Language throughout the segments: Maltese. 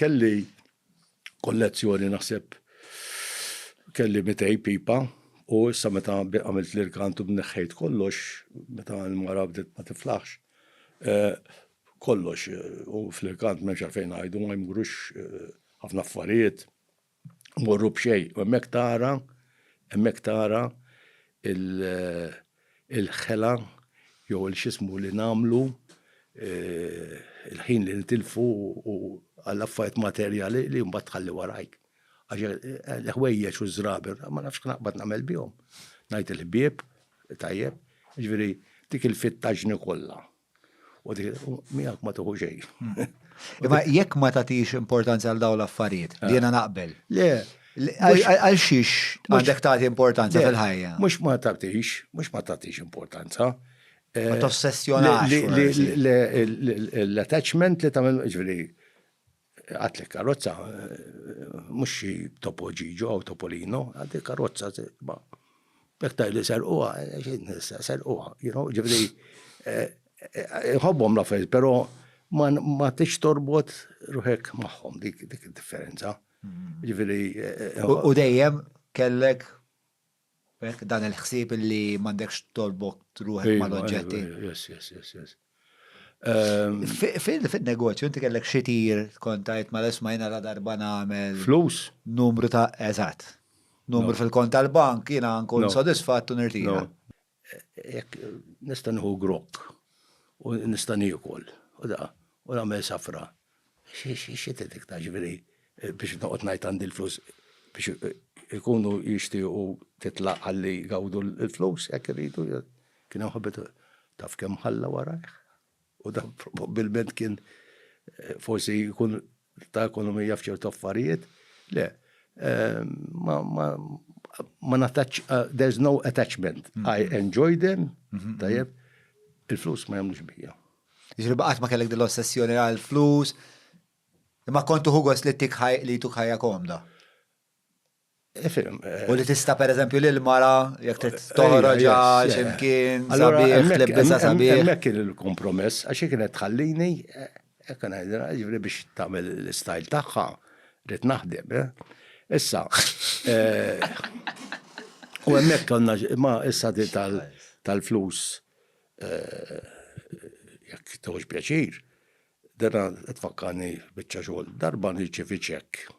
Kelli kollezzjoni naħseb kelli mitej pipa u issa meta għamilt l-irkant u bneħħejt kollox, meta l-mara bdiet ma tiflaħx, eh, kollox eh, u fl-irkant m'hemmx għalfejn ngħidu ma jmurux eh, ħafna affarijiet. Morru b'xejn, u hemmhekk tara, hemmhekk tara il-ħela jew il-xismu li nagħmlu eh, il-ħin li nitilfu u għall-affarijiet materjali li mbagħad tħalli warajk. Għax eh, l-ħwejjeġ u żraber, ma nafx naqbad nagħmel bihom. Ngħid il-ħbieb, tajjeb, ġifieri dik il-fittaġni kollha. U di, miegħek ma tuħu xejn. Hmm. Imma jekk ma tagħtix importanza għal dawn l-affarijiet, li jiena naqbel. Le, Għal xiex għandek tagħti importanza fil-ħajja? Mhux ma tagħtix, mhux ma tagħtix importanza. Eh, ma tossessjonax. L-attachment li tagħmel ġifieri Għad li karozza, mhux xi Topo Gigio jew Topolino, għad li karozza ma jekk tgħid li serquha, serquha, you know, ġifieri nħobbhom l-affarijiet, però ma tix torbot ruħek magħhom dik id-differenza. Ġifieri. U dejjem kellek Hekk, dan il-ħsieb li m'għandekx torbok ruħek mal-oġġetti. Yes, yes, yes, yes. Ehm, Fil-negozju, inti kellek xi tir kontajt ma l-isma jena la darba nagħmel. Flus? Numru ta' eżatt. Numru fil-kont tal-bank jiena nkun sodisfatt u nirtira. Jekk nista' nieħu grokk u nista' niekol u da u nagħmel safra. Xi tgħid iktar ġifieri biex noqgħod ngħid għandi l-flus biex ikunu jixtiequ titlaq ħalli jgawdu l-flus jekk iridu. Kien hemm ħabib taf kemm ħalla warajh. u dan probabbilment kien eh, forsi jkun ta' ekonomija f'ċertu affarijiet, le, eh, ma, ma, ma nataċ, uh, there's no attachment. Mm -hmm. I mm-hmm. enjoy them, mm -hmm. tajjeb, il-flus ma jamlux bija. Ġri baqat ma kellek dil-ossessjoni għal-flus, ma kontu ħugos li tikħaj li tukħajja komda. U li tista' pereżempju lil mara jekk trid toħroġ għal x'imkien sabiħ, tlibbisha sabiħ. Hemmhekk kien il-kompromess għax hi kienet tħallini hekk ngħidilha, jiġifieri biex tagħmel l-istyle tagħha rrid naħdem. Issa, u hemmhekk konna ma issa tal-flus jekk tieħux pjaċir, dera tfakkarni biċċa xogħol. Darba nirċievi ċekk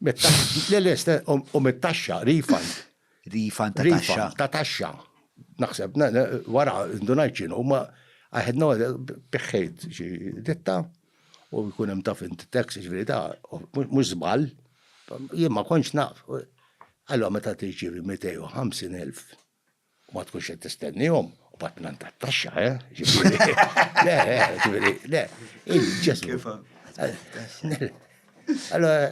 Le, le, u mit-taxxa, refund. Refund ta' taxxa. Ta' taxxa. Naħseb, wara, ndunajt ċinu, ma għahedna biħħejt xi ditta u jkun hemm taf int tax, ġviri ta' mhux żball, jien ma kontx naf. Allora meta tirċievi 250,000 u ma tkunx qed tistennihom, u bat nan tat-taxxa, eh? Le, ġifieri, le, il-ġesmu. Allora,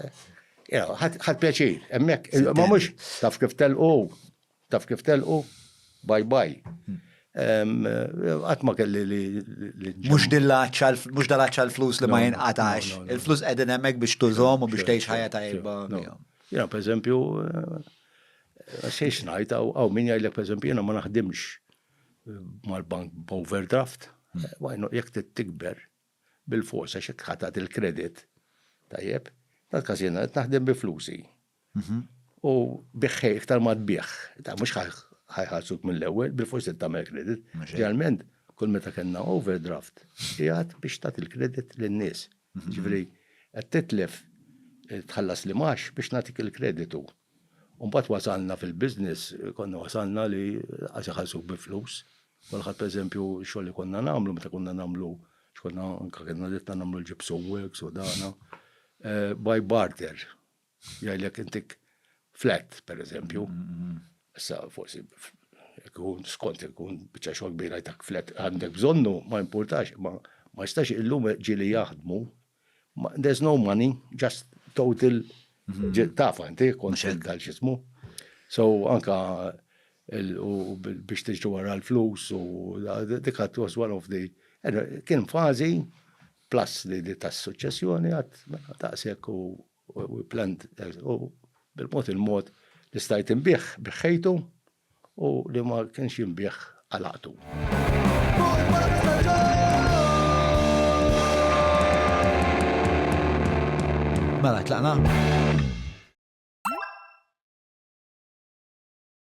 ħad pjaċir, emmek, ma mux, taf kif telqu, taf kif telqu, bye bye. Hmm. Għatma kelli li. Mux dillaċċa, mux dillaċċa l-flus li ma jinqatax. Il-flus edin emmek biex tużom u biex teħx ħajja tajba. Jena, per eżempju, Xejx ngħid, hawn min jgħidlek pereżempju jiena ma naħdimx eh, mal-bank b'overdraft, hmm. wajnu jekk tikber bil-forsa xek ħatat il-kredit, tajjeb, tal-każ jiena qed naħdem bi flusi. Mhm. U biħħej iktar ma tbieħ, ta' mhux ħajħalsuk mill-ewwel, bil-forsi tagħmel kredit. Ġeneralment, kull meta kellna overdraft, jgħat biex tat il-kredit lin-nies. Mhm. Ġifieri qed titlef eh, tħallas li max biex nagħtik il-kreditu. U mbagħad wasalna fil-business, konna wasalna li għax iħallsuk bi flus. Kulħadd pereżempju xogħol li konna nagħmlu meta konna nagħmlu x'konna anke kellna ditta nagħmlu l-gypsum works u dana. Eh, by barter. Jgħidlek intik flat pereżempju. Mm-hmm. Issa forsi ikun skont ikun biċċa xogħol kbira jtak flet għandek bżonnu ma importax ma ma jistax illum ġili jaħdmu There's no money, just total tafa inti konċent tal xismu. So anka biex tiġri wara l-flus u dik għat was one of the kien fazi plus li tas suċċessjoni għat mela, taqsek u We planned, u bil-mod il-mod li stajt inbih, biħħejtu u li ma kienx jinbih għalaqtu. Mela, tlaqna?